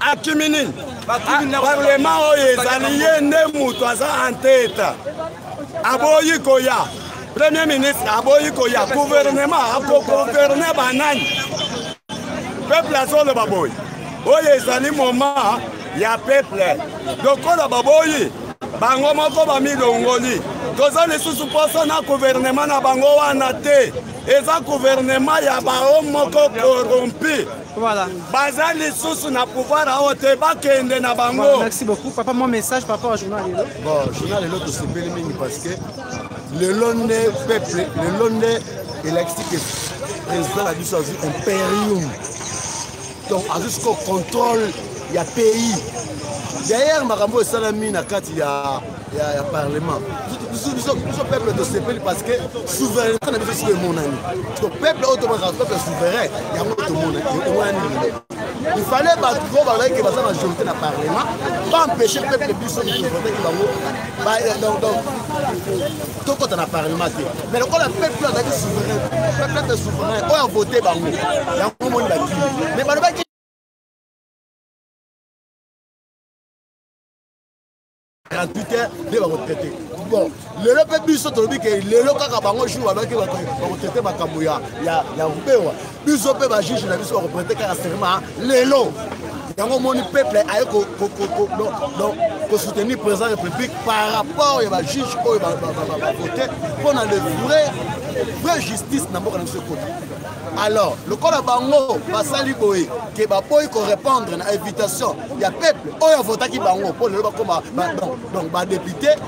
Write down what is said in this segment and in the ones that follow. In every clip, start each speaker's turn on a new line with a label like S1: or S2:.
S1: akimi nini parlema oyo ezali ye nde moto aza anteta aboyi koya premier ministre aboyi koya guvernema akogouverne banani peuple azoloba boye oyo ezali moma ya peuple lokola baboyi bango moko bamilongoli toza lisusu mposa na guvernema na bango wana te eza guvernema ya bao moko korompi voilà.
S2: baza lisusu
S1: na pouvoir awa te bakende na bango voilà, merci beaucoup papa mwa
S2: message par rapport à journal lelo bon journal lelo
S3: tosepeli mingi parce que lelo nde peuple lelo nde elakisi ke président na biso azwi imperium donc azwi siko contrôle ya pays d'ailleurs makambo oyo esalami na kati ya ya, ya parlement biso peuple tosepeli parce que souveraineté na biso siko emonani to peuple oyo tomonaka peuple souverain yango tomonani lelo il fallait bato oyo bazalaki ke baza majorité na parlement baempêche peuple biso tovote ki bango tokota na parlement te mais lokola peuple azalaki souverain peuple mpe souverain oyo avote bango yango omoni bakili mais balobaki gratuite nde bakotraite bon lelo mpe biso tolobi ke lelo kaka bango jour balobaki bakotraite makambo ya rubewa biso mpe bajuge na biso bakoprete kaka serment lelo yango omoni peuple aye kosoutenir président république par rapport ya bajuge oyo bavote mpo na le vrai vrai justice na mboka na biso ekota alors lokola bango basali boye ke baboyi korépondre na invitation ya peuple oyo avotaki bango mpo lelo bakoma donc badepute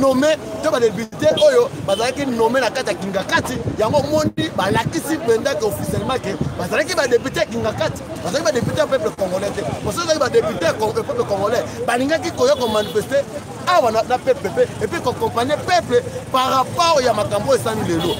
S3: nome to badepute oyo bazalaki nome na kati ya kingakati yango omoni balakisi mpenza ke officiellement ke bazalaki badepute ya kingakati bazalaki badepute ya peuple congolais te mosusu ezalaki badepute ya peuple congolais balingaki koya komanifeste awa na peuple mpe epuis kokompanye peuple par rapport ya makambo oyo esani lelo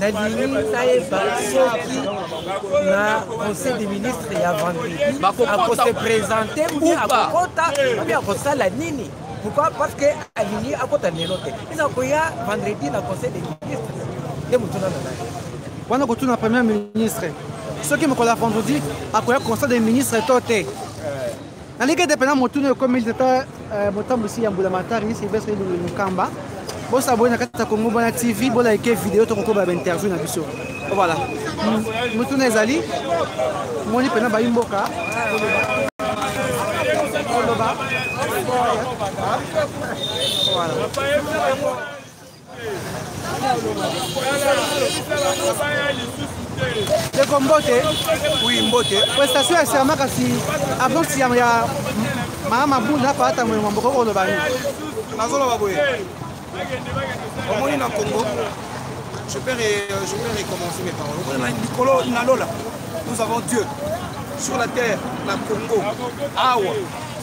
S4: nalingi nayeba soki na conseil des ministres ya vendredi akose présente ou akokota mpe akosala nini pourquoi parce que alingi akota lelo te eza koya vendredi na conseil des ministres nde motuna na nani wana kotuna
S2: premier ministre soki mokolo ya vendredi akoya conseil des ministres to te naliki ete mpena motuna oyo ekomi tata euh, motambwisi ya mbula matari silvestre elulu mokamba bosabone na kati ya kongo bwana tv bolaike video tokokoba bainterview na biso voilà motuna ezali moni mpena bayi mboka koloba voilà ndeko mbote wi mbote
S1: prestation ya serma
S2: kasi abonsi ya mama mabunda na palata moyo mwa mboka okoloba nini nazoloba
S1: boye omoni na congo je peux, je peux recommencer mes paroles omoni na likolo na lola nous avons dieu sur la terre na congo awa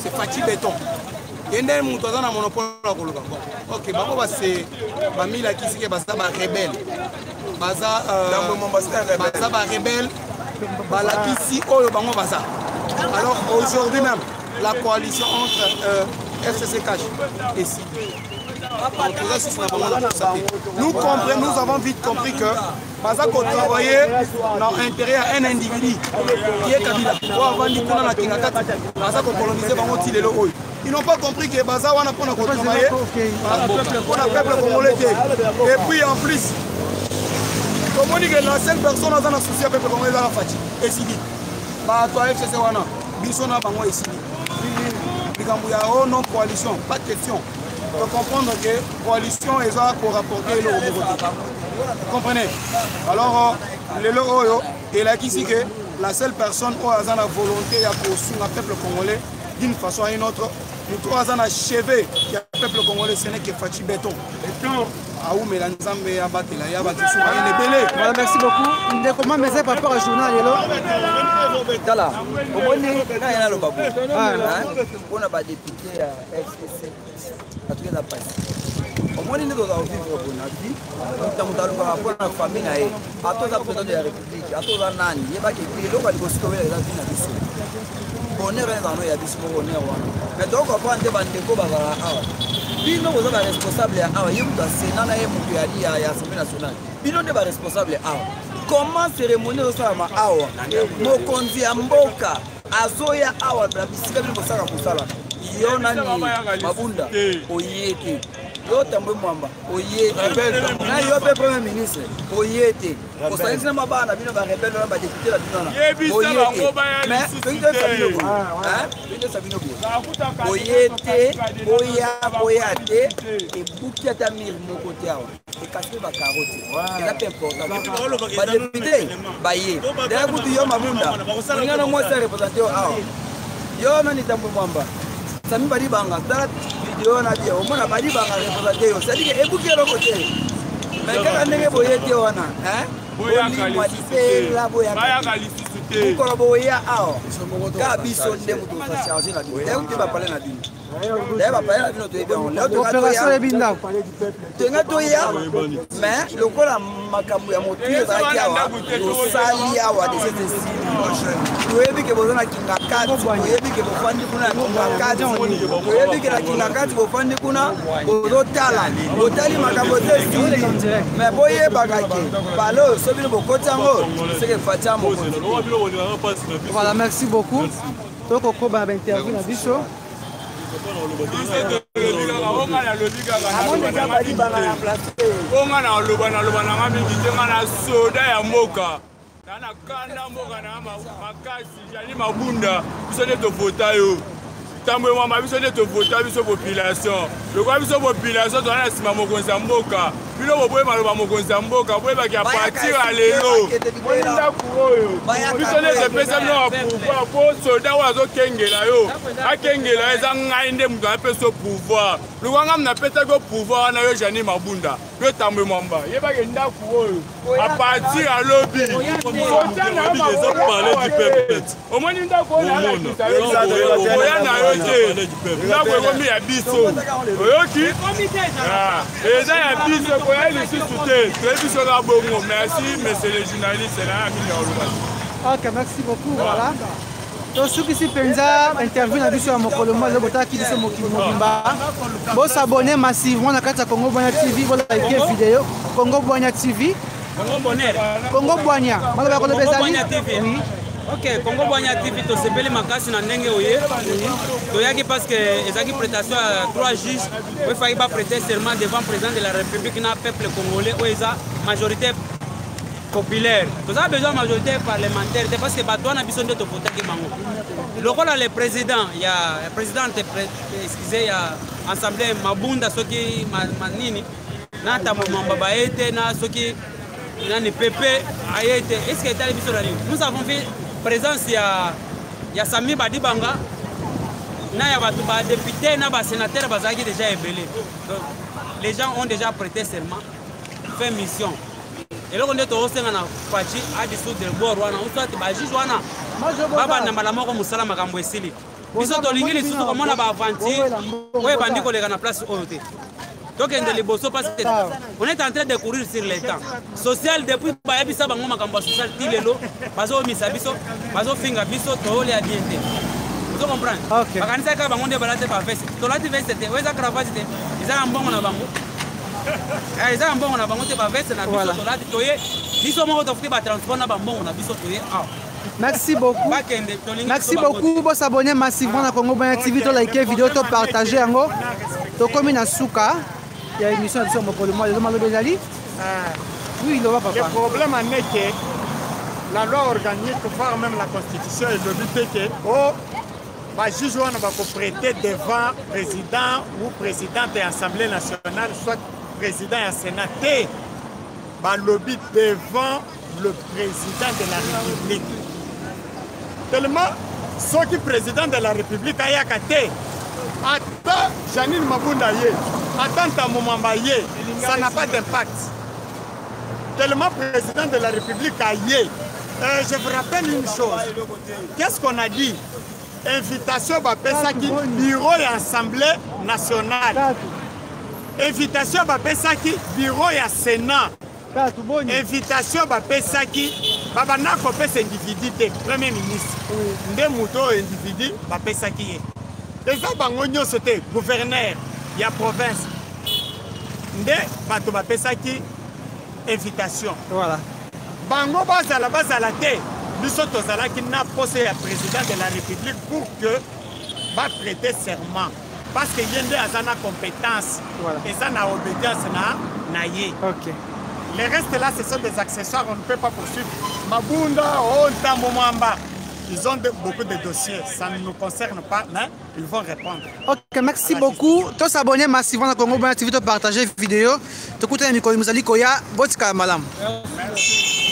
S1: c'est fati beton ye nde moto aza na monopole ya koloba bon ok bango base bamilakisi ke baza barebele baza euh, baza barebele balakisi oyo bango baza alors aujourd'hui même la coalition entre euh, fcc cash et si nous comprenons nous avons vite compris que baza kotravaye na intérêt ya un individu ye kabila oyo avandi kuna na kingakati baza kokolonise bango ti lelo oyo ils n'ont pas compris que baza wana mpona kotravaye mpona peuple congolais te et puis en plus tomoni ke la seule personne aza na souci ya peuple congolais ezaka faci esili bato ya fcc wana biso na bango esili likambo ya o oh non coalition pas question to
S3: comprendre que coalition eza ko rapporter eloko moko te comprenez alors lelo oyo elakisi que la seule personne oyo aza na volonté ya kosunga peuple congolais d'une façon à une autre moto oyo aza na cheve ya peuple congolais ce n'est que faci beton
S2: awumela nzambe abatela ye abakisi bayele ebele voilà merci beaucoup ndeko mama eza par rapport à journal lelo
S5: tala omoni ngai naloba boye mpona badepute ya omoni nde toza kovivre bona vi moto moto alukaka mpo na famille na ye ata oza président de la république ata oza nani yebaki eloko alikosi towela eza vi na biso bonheur wana ezala no ya biso moko bonheur wana mais tokokopa nde bandeko bazalaka awa bino boza baresponsable ya awa ye moto ya sena na ye moto ya assemblée nationale bino nde baresponsable awa comment cérémonie ezosalama awa mokonzi ya mboka azoya awa na bisika bino bosaka kosala yo nani mabunda oye te yo tambwe mwamba oye te na yo mpe premier ministre oye te osalisi na mabaa na bino barebele wana badepute na bino wana mais toki toyesa bino boye ah, toki toyesa bino boye oye te oya koya te ebuki ata mire moko te awa ekaspe bakaroti eza mpe importantbadepute baye daya kutu yo mabunda olingana mwasi ya represente yo awa yo nani tambo mwamba sami badibanga tala video na bie omona badibanga represente yo sadike ebuki eloko te mai kaka ndenge boye te wana bolimwa libela boyaka mokolo boya awa kaka biso nde moto ocharge na bino eute bapale na bino naye bapaya na bino toyebi yango leo
S2: tolinga
S5: toya mais lokola makambo ya motui ezalaki awa tosali awa desesesi toyebi ke boza na kingakati toyebi ke bofandi kuna na kingakati toyebi ke na kingakati bofandi kuna bozotala botali makambo te esili mais boyebaka ke bale oyo so bino bokoti yango seke fatia mokonzi
S2: voilà merci beaucoup tokokoba bainterview na biso
S1: onga na oloba naloba nanga mingi te nga na soda ya mboka na na kanda mboka na makasi jali mabunda biso nde tovota yo ntambo emwamba biso nde tovota biso population lokola biso population tozala na nsima mokonzi ya mboka bino boboyi maloba mokonzi ya mboka boyebaki ya partir ya lelo moni ndako oyo biso nde topesa bino ya pouvoir po soldat oyo azokengela yo akengela yo eza ngai nde moto anapesa yo pouvoir lokwa ngai napesaki yo pouvoir wana yo jani mabunda yo tambwe mwamba yebaki ndako oyo apartir ya lobi omoni ndako oyo nalakisa yo okoya na yo te ndako ekomi ya biso oyoki ah, eza ya biso ekoya lisusu te toyebi biso na bongo merci monsieur le journaliste na ya mingi oloba ok merci beaucoup
S2: voilà tosukisi mpenza interview na biso ya mokolo mwa lelo botalaki biso mokili mobimba bosabone massivement na kati ya congo bwanya tv bolike video congo bwanya tv Congo Bonheur.
S6: Congo Bwanya.
S2: Maloba ya koloba ezali. Congo Bwanya TV. Oui.
S6: ok congo bwanya tv tosepeli makasi na ndenge oye toyaki parce que ezalaki prestation ya trois juges oyo efaki baprete serment devant président de la république na peuple congolais oyo eza majorité populaire toza besoin majorité parlementaire te parce que bato wana biso nde topotaki bango lokola le président ya présidente excuse ya assemblée mabunda soki manini ma na tambo mamba baye te na soki nani pepe aye te est ce que etali biso na nini nous avons vu présence ya ya sami badibanga na ya bato badepute na basénateur bazalaki déjà ebele donc les gens ont déjà prêté seulement fait mission eloko nde tokosenga na faci adisoudre bor wana ou soit bajuge wana babanda mbala moko mosala makambo esili biso tolingi lisusu komona baaventure oyo ebandi koleka na place oyo te tokende liboso parce que on est en train de courir sur le temps social depuis bayebisa bango makambo ya social ti lelo bazoomisa biso bazofinga biso toolya bien te ozo comprendre bakanisaki kaka bango nde balati baveste tolati veste te oyo eza cravate te eza na mbongo na bango eh, eza na mbongo na bango te baveste na biso tolati toye biso moko tofuti batransport na bambongo na biso toye awa Merci
S2: beaucoup. Merci beaucoup. Bo s'abonner massivement à Congo Banya TV, to liker vidéo, to partager yango. To komi na suka. Il y a émission de Somo Koloma, le Malo Bezali. Ah. Oui, il va papa. Le problème en est
S7: que la loi organique, voire même la constitution, est devenue que oh, bajuge wana bakoprete devant président ou présidente ya assemblée nationale soit président ya sénat te balobi devant le président de la république tellement soki président de la république ayaka te ata janine mabunda ye ata ntambo mamba ye ça n'a pas d'impact tellement président de la république aye euh, je vous rappelle une chose qu'est-ce qu'on a dit invitation bapesaki bureau ya assemblée nationale invitation bapesaki bureau ya sénat invitation bapesaki babanda kopesa individu te premier ministre nde moto oyo individu bapesaki ye eza bango nyonso te gouverneur ya province nde bato bapesaki invitation voilà. bango bazala bazala te biso tozalaki na poste ya président de la république pour que baprete serment parce que ye nde aza na compétence voilà. eza na obédience na na ye okay. les restes là ce sont des accessoires on ne peut pas poursuivre mabunda o oh, ntambo mwamba ils ont de, beaucoup de dossiers ça ne nous concerne pas mais ils vont répondre ok merci
S2: beaucoup to s'abonner massivement na congo bona tv to partager vidéo tokutana mikolo mizali koya botikala malamu merci.